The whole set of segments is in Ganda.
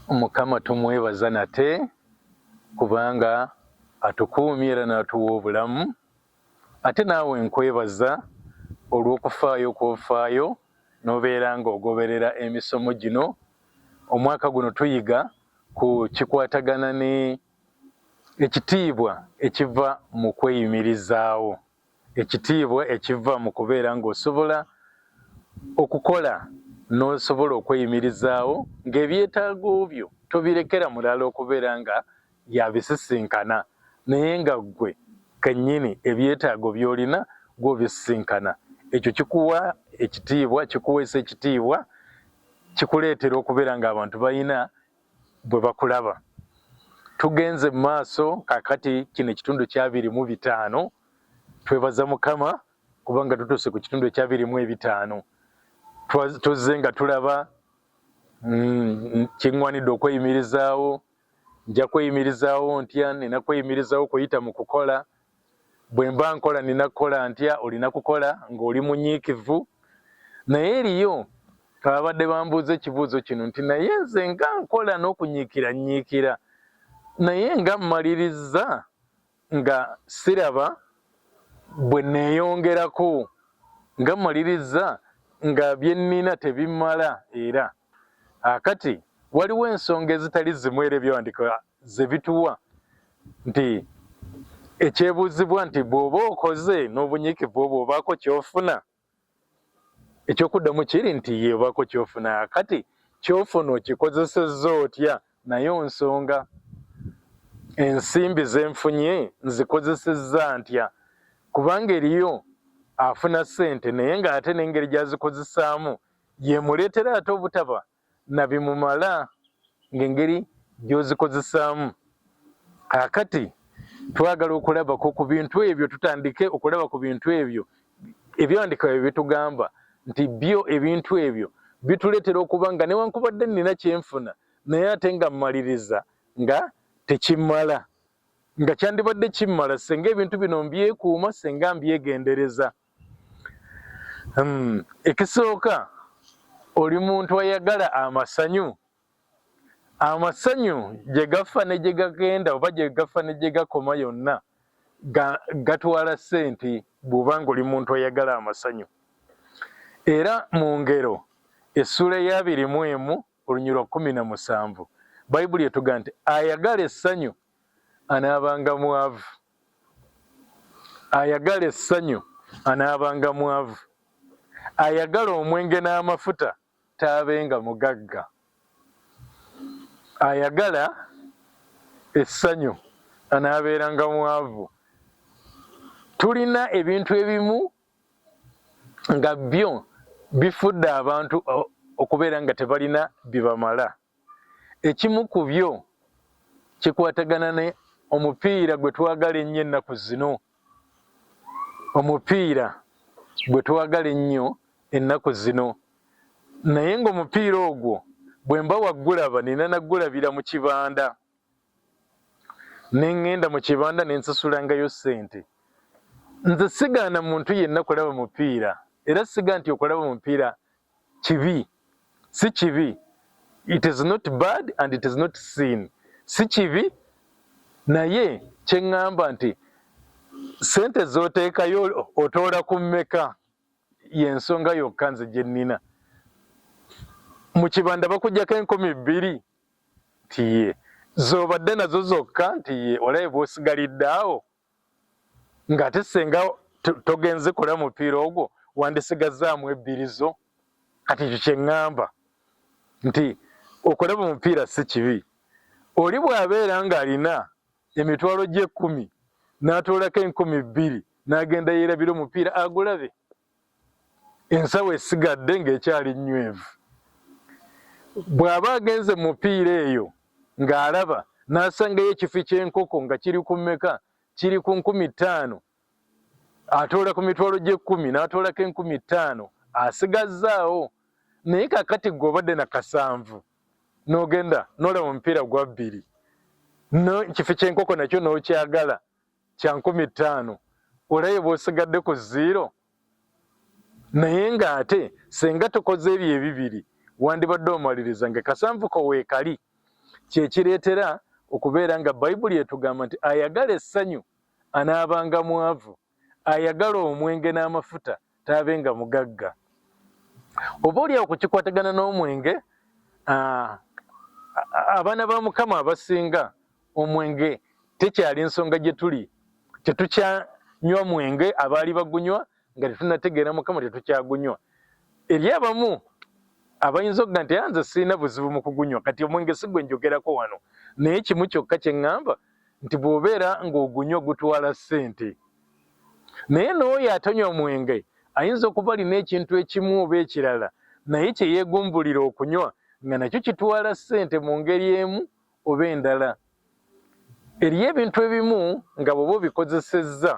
Mukama tumwebaza nate kubanga atukuumye era n'atuwa obulamu ate naawe nkwebaza olw'okufaayo kwofaayo n'obeera ng'ogoberera emisomo gino omwaka guno tuyiga ku kikwatagana ne ekitiibwa ekiva mu kweyimirizaawo. Ekitiibwa ekiva mu kubeera ng'osobola okukola n'osobola okweyimirizaawo ng'ebyetaago byo tobirekera mulala okubeera nga y'abisisinkana naye nga ggwe kennyini ebyetaago by'olina gwe obisisinkana. Ekyo kikuwa ekitiibwa, kikuweesa ekitiibwa, kikuleetera okubeera ng'abantu balina bwe bakulaba. Tugenze mu maaso kakati kino ekitundu kyabiri mu bitaano twebaza Mukama kubanga tutuuse ku kitundu ekyabiri mu ebitaano tuzze nga tulaba mm, kiŋwanidde okweyimirizaawo nja kweyimirizaawo ntya nina kweyimirizaawo kuyita mu kukola bwemba nkola nina kukola ntya olina kukola ng'oli munyiikivu naye eriyo ababadde bambuuza ekibuuzo kino nti naye nze nga nkola n'okunyiikira nyiikira naye nga mmalirizza nga siraba bwe neeyongerako nga mmalirizza nga bye nnina tebimala era akati waliwo ensonga ezitali zimu era ebyawandika ze bituwa nti ekyebuuzibwa nti bw'oba okoze n'obunyiikivu obwo obaako ky'ofuna ekyokuddamu kiri nti ye obaako ky'ofuna kati ky'ofuna okikozesezza otya nayo nsonga ensimbi ze nfunye nzikozesezza ntya kubanga eriyo afuna ssente naye ng'ate n'engeri gy'azikozesaamu yemuleetera ate obutaba na bimumala ng'engeri gy'ozikozesaamu kaakati twagala okulabako ku bintu ebyo tutandike okulaba ku bintu ebyo ebyawandika bye bitugamba nti byo ebintu ebyo bituleetera okuba nga newankubadde nnina kyenfuna naye ate nga mmaliriza nga tekimmala nga kyandibadde kimmala senga ebintu bino mbyekuuma senga mbyegendereza Hmm, ekisooka oli muntu ayagala amasanyu amasanyu gye gafa ne gye gagenda oba gye gafa ne gye gakoma yonna gatwala ssente bw'oba ng'oli muntu ayagala amasanyu era mu ngero essuula ey'abiri mu emu olunyirwa lwa kkumi na musanvu bayibuli etuga nti ayagala essanyu anaabanga mwavu ayagala essanyu anaabanga mwavu, ayagala omwenge n'amafuta taabenga mugagga, ayagala essanyu anaabeeranga mwavu. Tulina ebintu ebimu nga byo bifudde abantu okubeera nga tebalina bibamala. Ekimu ku byo kikwatagana ne omupiira gwe twagala ennyo ennaku zino. Omupiira gwe twagala ennyo ennaku zino. Naye ng'omupiira ogwo bwe mba waggulaba nina naggulabira mu kibanda. ne ŋŋenda mu kibanda ne nsasulangayo ssente. Nze sigaana muntu yenna kulaba mupiira era siga nti okulaba omupiira kibi si kibi it is not bad and it is not sin si kibi naye kyeŋŋamba nti sente z'oteekayo otoola ku mmeka y'ensonga yokka nze gye nnina mu kibanda bakugyako enkumi bbiri nti ye zobadde nazo zokka nti ye olabe bwosigalidde awo nga ate senga togenze kola mupiira ogwo wandisigazaamu ebbiri zo kati ekyo kyeŋŋamba nti okulaba omupiira si kibi oli bw'abeera ng'alina emitwalo gy'ekkumi n'atoolako enkumi bbiri n'agenda yeerabira omupiira agulabe ensawo esigadde ng'ekyali nnywevu. Bw'aba agenze mu mupiira eyo ng'alaba n'asangayo ekifi ky'enkoko nga kiri ku mmeka, kiri ku nkumi ttaano, atoola ku mitwalo gy'ekkumi n'atoolako enkumi ttaano asigazzaawo. Naye kakati gwe obadde na kasanvu n'ogenda n'olaba omupiira gwa bbiri, n'ekifi ky'enkoko nakyo n'okyagala kya nkumi ttaano olabye bwosigadde ku ziiro naye ng'ate senga tukoze ebyo ebibiri wandibadde omaliriza nga kasanvuko weekali kyekireetera okubeera nga bayibuli etugamba nti ayagala essanyu anaabanga mwavu ayagala omwenge n'amafuta taabe nga mugagga oba olyawo ku kikwatagana n'omwenge abaana ba mukama abasinga omwenge tekyali nsonga gye tuli tetukyanywa mwenge abaali bagunywa nga tetunategeera mukama tetukyagunywa eri abamu abayinza okuga nti anze sirina buzibu mu kugunywa kati omwenge si gwe njogerako wano naye kimu kyokka kye ŋŋamba nti bw'obeera ng'ogunywa gutwala ssente naye n'oyo atonywa mwenge ayinza okuba alina ekintu ekimu oba ekirala naye kye yeegumbulira okunywa nga nakyo kitwala ssente mu ngeri emu oba endala eriyo ebintu ebimu nga bwoba obikozesezza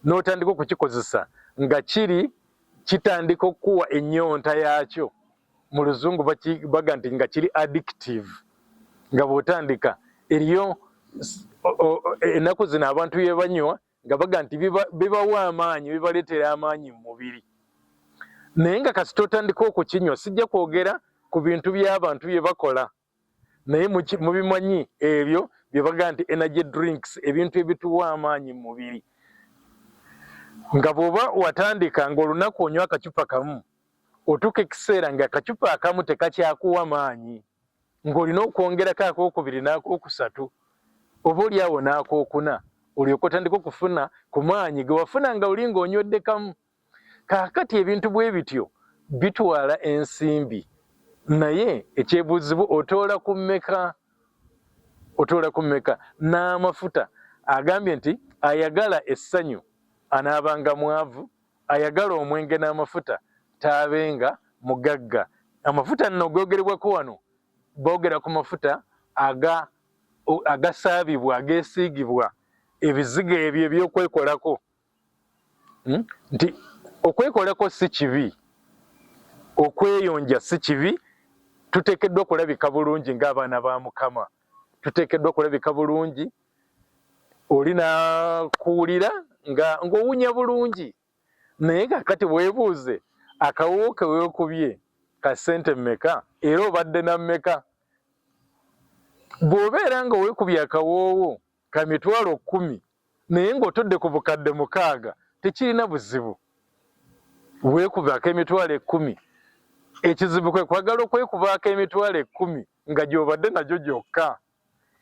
n'otandika okukikozesa nga kiri kitandika okukuwa ennyonta yaakyo mu luzungu baga nti nga kiri addictive nga bwotandika eriyo ennaku zino abantu yebanywa nga baga nti bibawa amaanyi bibaleetera amaanyi mu mubiri naye nga kasita otandika okukinywa sijja kwogera ku bintu by'abantu bye bakola naye mubimanyi ebyo byebagamba nti energy drinks ebintu ebituwa amaanyi mu mubiri nga bwoba watandika nga olunaku onywa akacupa kamu otuuka ekiseera nga akacupa akamu tekakyakuwa maanyi ng'olina okwongerako akokubiri n'akokusatu oba oli awo n'akokuna olyoka otandika okufuna ku maanyi gewafuna nga oli ng'onywedde kamu kaakati ebintu bwe bityo bitwala ensimbi naye ekyebuuzibwa otoola ku mmeka otoola ku mmeka n'amafuta agambye nti ayagala essanyu anaabanga mwavu ayagala omwenge n'amafuta taabenga mugagga amafuta nno googerebwako wano boogera ku mafuta aga agasaabibwa ageesiigibwa ebizigo ebyo ebyokwekolako hmm? nti okwekolako si kibi okweyonja si kibi tuteekeddwa okulabika bulungi ng'abaana ba mukama tuteekeddwa okulabika bulungi oli nakuwulira nga ng'owunya bulungi naye kakati weebuuze akawuwo ke weekubye ka ssente mmeka era obadde na mmeka bw'obeera nga weekubye akawoowo ka mitwalo kkumi naye ng'otodde ku bukadde mukaaga tekirina buzibu weekubaako emitwalo ekkumi ekizibu kwe kwagala okwekubaako emitwalo ekkumi nga gy'obadde nagyo gyokka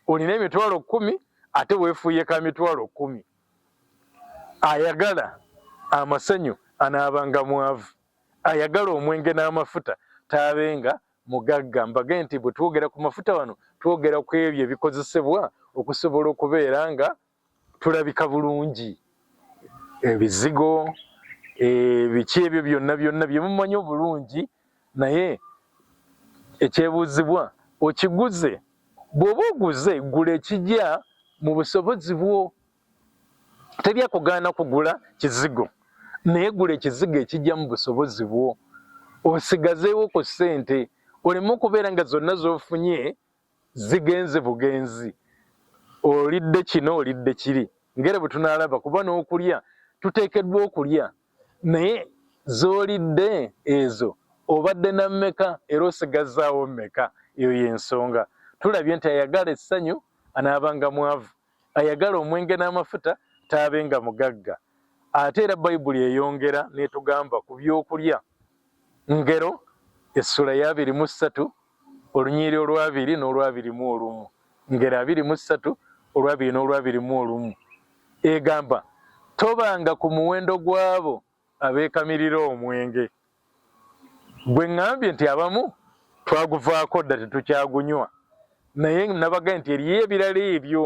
olina emitwalo kkumi ate weefuuye ka mitwalo kkumi ayagala amasanyu anaabanga mwavu ayagala omwenge n'amafuta taabenga mugagga mbage nti bwe twogera ku mafuta wano twogera ku ebyo ebikozesebwa okusobola okubeera nga tulabika bulungi ebizigo ebiki ebyo byonna byonna bye mumanyi obulungi naye ekyebuuzibwa okiguze bw'oba oguze gula ekigya mu busobozi bwo teri akugaana kugula kizigo naye gula ekizigo ekijja mu busobozi bwo osigazeewo ku ssente oleme okubeera nga zonna z'ofunye zigenze bugenzi olidde kino olidde kiri ngere bwe tunaalaba kuba n'okulya tuteekeddwa okulya naye z'olidde ezo obadde na mmeka era osigazaawo mmeka eyo y'ensonga tulabye nti ayagala essanyu anaabanga mwavu ayagala omwenge n'amafuta taabe nga mugagga. Ate era Bayibuli eyongera n'etugamba ku by'okulya. Ngero essula ya abiri mu ssatu olunyiri olwabiri n'olwabiri mu olumu. Ngero abiri mu ssatu olwabiri n'olwabiri mu olumu egamba tobanga ku muwendo gw'abo abeekamirira omwenge gwe ŋŋambye nti abamu twaguvaako dda tetukyagunywa naye nabagaye nti eriyo ebirala ebyo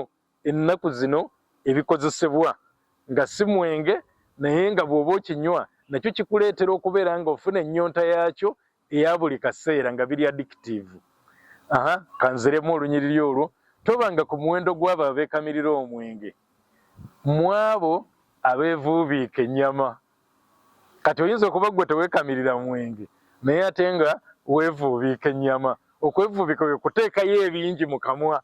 ennaku zino ebikozesebwa nga si mwenge naye nga bw'oba okinywa nakyo kikuleetera okubeera ng'ofuna ennyonta yaakyo eya buli kaseera nga biri addictive aha kanziremu olunyiriri olwo tobanga ku muwendo gw'abo abeekamirira omwenge mu abo abeevuubiika ennyama kati oyinza okuba ggwe teweekamirira mwenge naye ate nga weevuubiika ennyama okwevuubiika kwe kuteekayo ebingi mu kamwa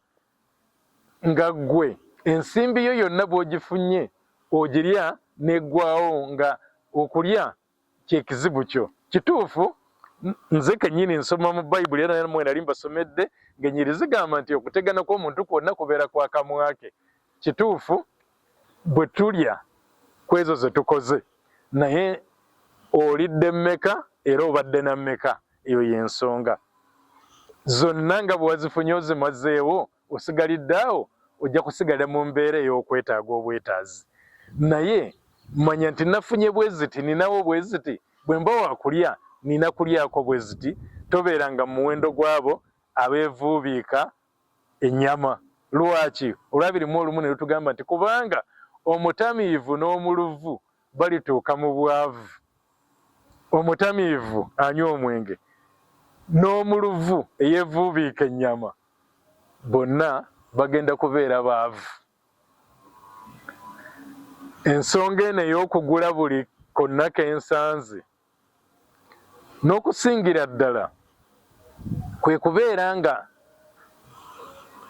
nga ggwe ensimbi yo yonna bw'ogifunye ogirya n'eggwawo nga okulya kyekizibu kyo kituufu nze kenyini nsoma mu bayibuli era namwe nali mbasomedde ngenyiri zigamba nti okutegana kw'omuntu kwonna kubeera kwa kamwa ke kituufu bwe tulya kwezo ze tukoze naye olidde mmeka era obadde na mmeka eyo y'ensonga zonna nga bwewazifunye ozimazeewo osigalidde awo ojja kusigala mu mbeera ey'okwetaaga obwetaazi naye manya nti nafunye bweziti ninawo bweziti bwe mba wakulya nina kulyako bweziti tobeera nga muwendo gwabo abeevuubiika ennyama lwaki olwabirimu olumu ne lutugamba nti kubanga omutamiivu n'omuluvu balituuka mu bwavu omutamiivu anywa omwenge n'omuluvu eyeevuubiika ennyama bonna bagenda kubeera baavu. Ensonga eno ey'okugula buli konna ke nsanze n'okusingira ddala kwe kubeera nga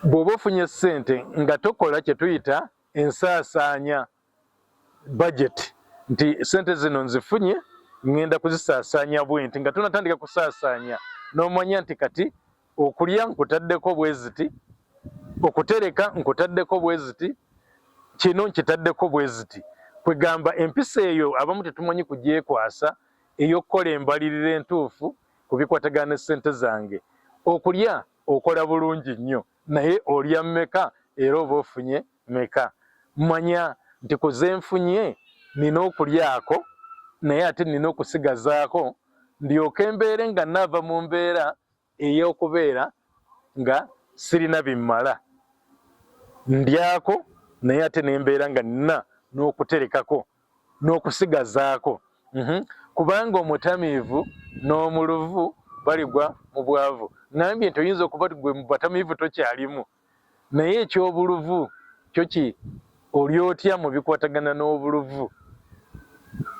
bw'oba ofunye ssente nga tokola kye tuyita ensaasaanya. budget nti sente zino nzifunye ngenda kuzisaasaanya bwenti nga tunatandika kusaasaanya n'omanya nti kati okulya nkutaddeko bweziti okutereka nkutaddeko bweziti kino nkitaddeko bweziti kwegamba empisa eyo abamu tetumanyi kugyekwasa ey'okukola embalirira entuufu ku bikwatagana ne sente zange okulya okola bulungi nnyo naye olya meka era oba ofunye meka manya nti kuze nfunye nina okulyako naye ate nina okusigazaako ndyoka embeere nga naava mu mbeera ey'okubeera nga sirina bimmala ndyako naye ate nembeera nga nina n'okuterekako n'okusigazaako mhm. kubanga omutamiivu n'omuluvu baligwa mu bwavu ngambye nti oyinza okuba ti gwe mu batamiivu tokyalimu naye ekyobuluvu kyo ki oli otya mu bikwatagana n'obuluvu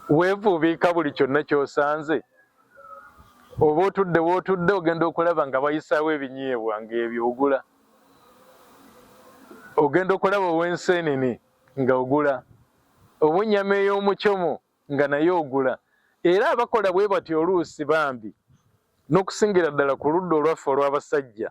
weevuubiika buli kyonna kyosanze oba otudde wootudde ogenda okulaba nga bayisaawo ebinyeebwa ng'ebyo ogula ogenda okulaba ow'enseenene nga ogula oba ennyama ey'omucomo nga naye ogula era abakola bwe bati oluusi bambi n'okusingira ddala ku ludda olwaffe olw'abasajja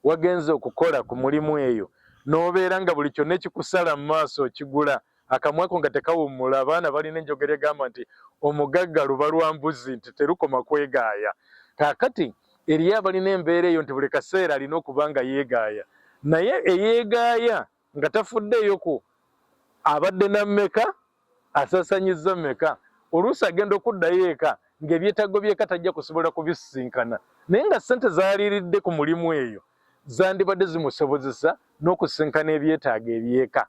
wagenze okukola ku mulimu eyo n'obeera nga buli kyonna ekikusala mu maaso okigula akamwako nga tekawummula abaana balina enjogera egamba nti omugagga luba lwa mbuzi nti terukoma kwegaaya kaakati eriyo abalina embeera eyo nti buli kaseera alina okuba nga yeegaaya naye eyeegaaya nga tafuddeeyo ku abadde na mmeka asasanyizza mmeka oluusi agenda okuddayo eka ng'ebyetaago by'eka tajja kusobola kubisisinkana naye nga ssente zaaliiridde ku mulimu eyo zandibadde zimusobozesa n'okusisinkana ebyetaago eby'eka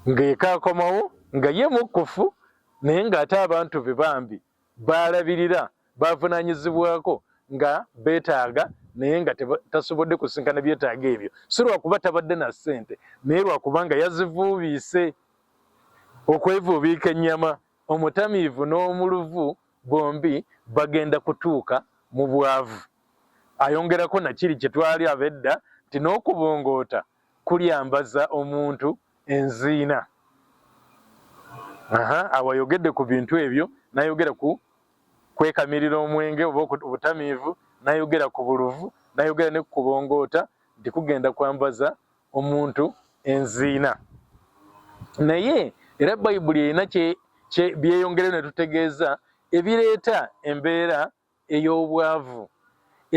ng'eka akomawo nga ye mukkufu naye ng'ate abantu be bambi baalabirira baavunaanyizibwako nga beetaaga naye nga tasobodde kusinkana byetaaga ebyo si lwakuba tabadde na ssente naye lwakuba nga yazivuubiise okwevuubiika ennyama omutamiivu n'omuluvu bombi bagenda kutuuka mu bwavu ayongerako nakiri kye twali abedda nti n'okubongoota kulyambaza omuntu enziina awo ayogedde ku bintu ebyo nayogera ku kwekamirira omwenge oba obutamiivu nayogera ku buluvu nayogera ne kukubongoota nti kugenda kwambaza omuntu enziina naye era bayibuli erina byeyongereyo netutegeeza ebireeta embeera ey'obwavu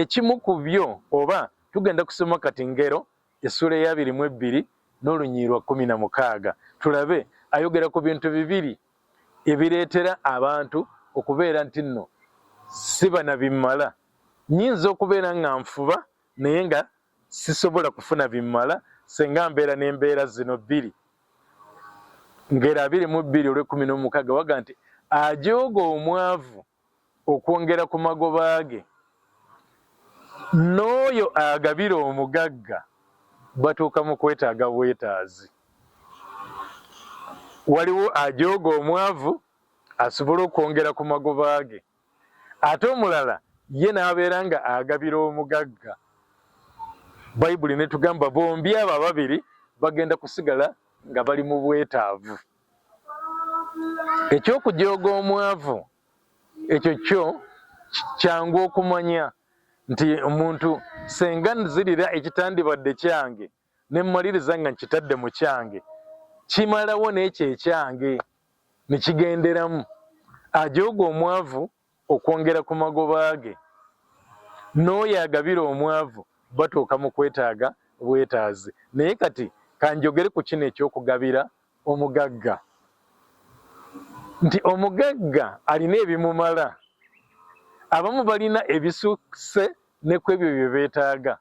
ekimu ku byo oba tugenda kusoma kati ngero essuula eyabiri mu ebbiri n'olunyiirwa kumi na mukaaga tulabe ayogera ku bintu bibiri ebireetera abantu okubeera nti nno siba na bimmala nyinza okubeera nga nfuba naye nga sisobola kufuna bimmala senga mbeera n'embeera zino bbiri ngero abiri mu bbiri olw'ekkumi n'omukaaga waga nti ajooga omwavu okwongera ku magoba ge n'oyo agabira omugagga batuuka mu kwetaaga bwetaazi waliwo ajooga omwavu asobole okwongera ku magoba ge ate omulala ye n'abeera nga agabira omugagga bayibuli netugamba bombi abo ababiri bagenda kusigala nga bali mu bwetaavu eky'okujooga omwavu ekyo kyo kyangu okumanya nti omuntu senga nzirira ekitandibadde kyange ne mmaliriza nga nkitadde mu kyange kimalawo n'ekyo ekyange ne kigenderamu ajooga omwavu okwongera ku magoba ge n'oyo agabira omwavu batuuka mu kwetaaga bwetaazi naye kati kanjogere ku kino eky'okugabira omugagga nti omugagga alina ebimumala abamu balina ebisusse ne ku ebyo bye beetaaga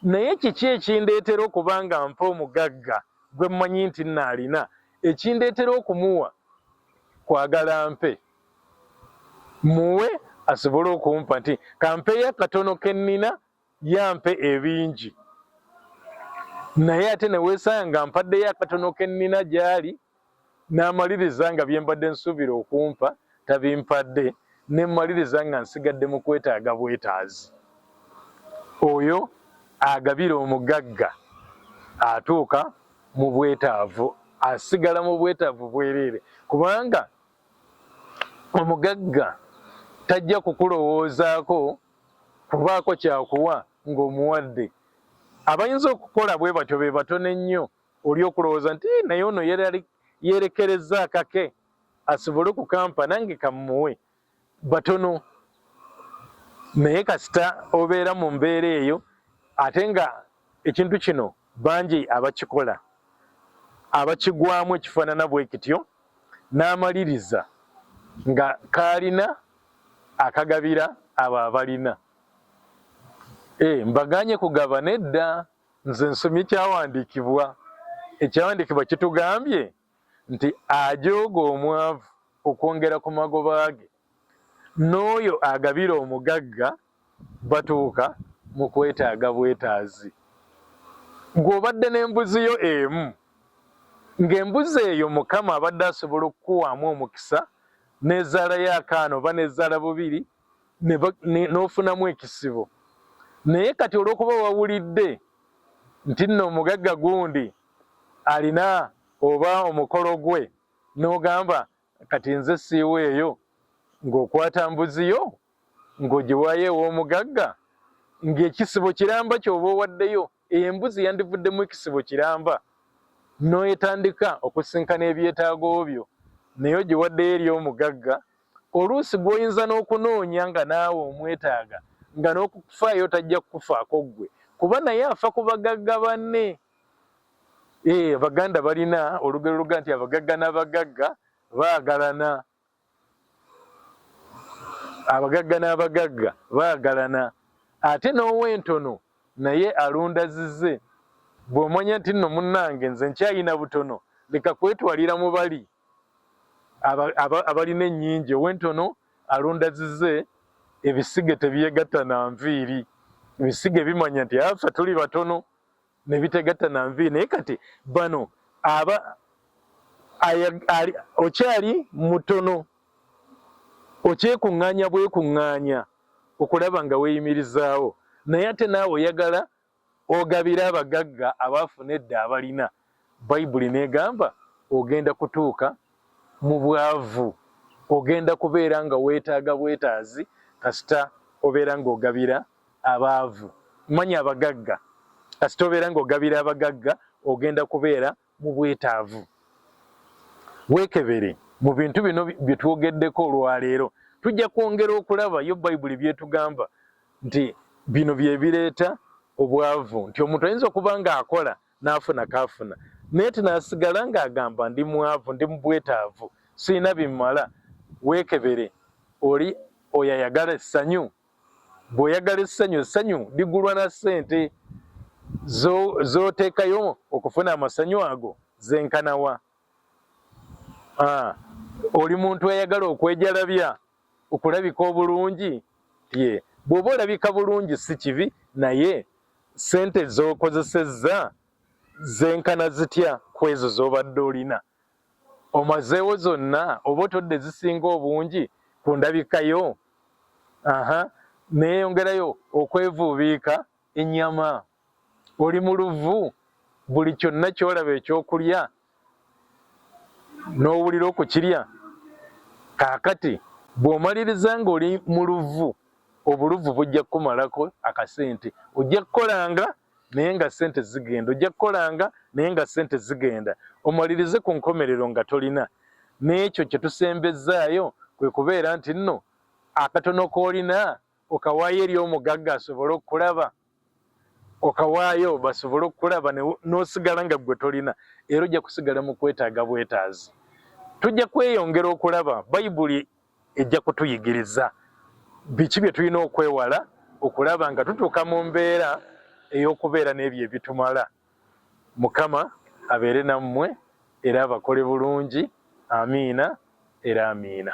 naye kiki ekindeetera okuba nga mpa omugagga gwe mmanyi nti nnaalina ekindeetera okumuwa kwagala mpe muwe asobole okumpa nti kampeyo akatono ke nnina yampe ebingi naye ate ne weesanga mpaddeyo akatono ke nnina gy'ali Namaliriza nga byembadde nsuubira okumpa tabimpadde ne mmaliriza nga nsigadde mu kwetaaga bwetaazi. Oyo agabira omugagga atuuka mu bwetaavu, asigala mu bwetaavu bwereere kubanga omugagga tajja kukulowoozaako kubaako kyakuwa ng'omuwadde. Abayinza okukola bwe batyo be batono ennyo oli okulowooza nti eh, naye ono yerekereza akake asobole okukampa nange kamuwe batono naye kasita obeera mu mbeera eyo ate nga ekintu kino bangi abakikola abakigwamu ekifaanana bwekityo n'amaliriza nga kaalina akagabira abo abalina eh, mbaganye kugaba nedda Nze nsomye kyawandiikibwa, ekyawandiikibwa kitugambye nti ajooga omwavu okwongera ku magoba ge, n'oyo agabira omugagga batuuka mu kwetaaga bwetaazi. Gwe obadde n'embuzi yo emu, ng'embuzi eyo Mukama abadde asobola okukuwaamu omukisa n'ezaalayo akaana oba n'ezaala bubiri n'ofunamu ekisibo naye kati olw'okuba wawulidde nti nno omugagga gundi alina oba omukolo gwe n'ogamba kati nze siiwa eyo ng'okwata mbuzi yo ng'ogiwaayo ew'omugagga ng'ekisibo kiramba ky'oba owaddeyo eyo embuzi yandivuddemu ekisibo kiramba n'oyetandika okusinkana ebyetaago byo naye ogiwaddeyo eri omugagga Oluusi gw'oyinza n'okunoonya nga naawe omwetaaga nga n'okukufaayo tajja kukufaako ggwe kuba naye afa ku bagagga banne. Ee, eh, Baganda balina olugero luga nti abagagga n'abagagga baagalana. Abagagga n'abagagga baagalana. Ate n'ow'entono naye alunda zize. Bw'omanya nti nno munnange nze nkyalina butono leka kwetwalira mu bali. abalina ennyingi owentono alonda zize ebisige tebyegatta na nviiri ebisige bimanya nti afa tuli batono nebitegatta na nviiri naye kati bano aba okyali mutono okyekuŋŋaanya bwekuŋŋaanya okulaba nga weyimirizaawo naye ate naawe oyagala Ogabira abagagga abaafuna edda abalina, Bayibuli n'egamba ogenda kutuuka mu bwavu. Ogenda kubeera nga weetaaga bwetaazi kasita obeera ng'ogabira abaavu. Manya abagagga. Kasita obeera ng'ogabira abagagga ogenda kubeera mu bwetaavu weekebere mu bintu bino bye twogeddeko olwaleero tujja kwongera okulaba yo bayibuli byetugamba nti bino bye bireeta obwavu nti omuntu ayinza okuba ng'akola n'afuna kaafuna naye tinasigala ng'agamba ndi mwavu ndi mu bwetaavu sirina bimala weekebere oli oyo ayagala essanyu bw'oyagala essanyu essanyu ligulwa na ssente z'oteekayo okufuna amasanyu ago zenkanawa ah, oli muntu ayagala okwejalabya okulabika obulungi ye bw'oba olabika bulungi si kibi naye ssente z'okozesezza zenkana zitya ku ezo z'obadde olina Omazeewo zonna oba otodde ezisinga obungi ku ndabika yo? Aha, neeyongerayo okwevuubiika ennyama. Oli mu luvu, buli kyonna ky'olaba eky'okulya n'owulira okukirya. Kaakati bw'omaliriza ng'oli mu luvu, obuluvu bujja kukumalako akasente. Ojja kukolanga naye nga sente zigenda ojja kukolanga naye nga sente zigenda omalirize ku nkomerero nga tolina n'ekyo kye tusembezzaayo kwe kubeera nti nno akatono k'olina okawaayo eri omugagga asobole okukulaba okawaayo basobole okukulaba n'osigala nga ggwe tolina era ojja kusigala mu kwetaaga bwetaazi tujja kweyongera okulaba bayibuli ejja kutuyigiriza biki bye tulina okwewala okulaba nga tutuuka mu mbeera ey'okubeera n'ebyo ebitumala mukama abeere nammwe era abakole bulungi amiina era amiina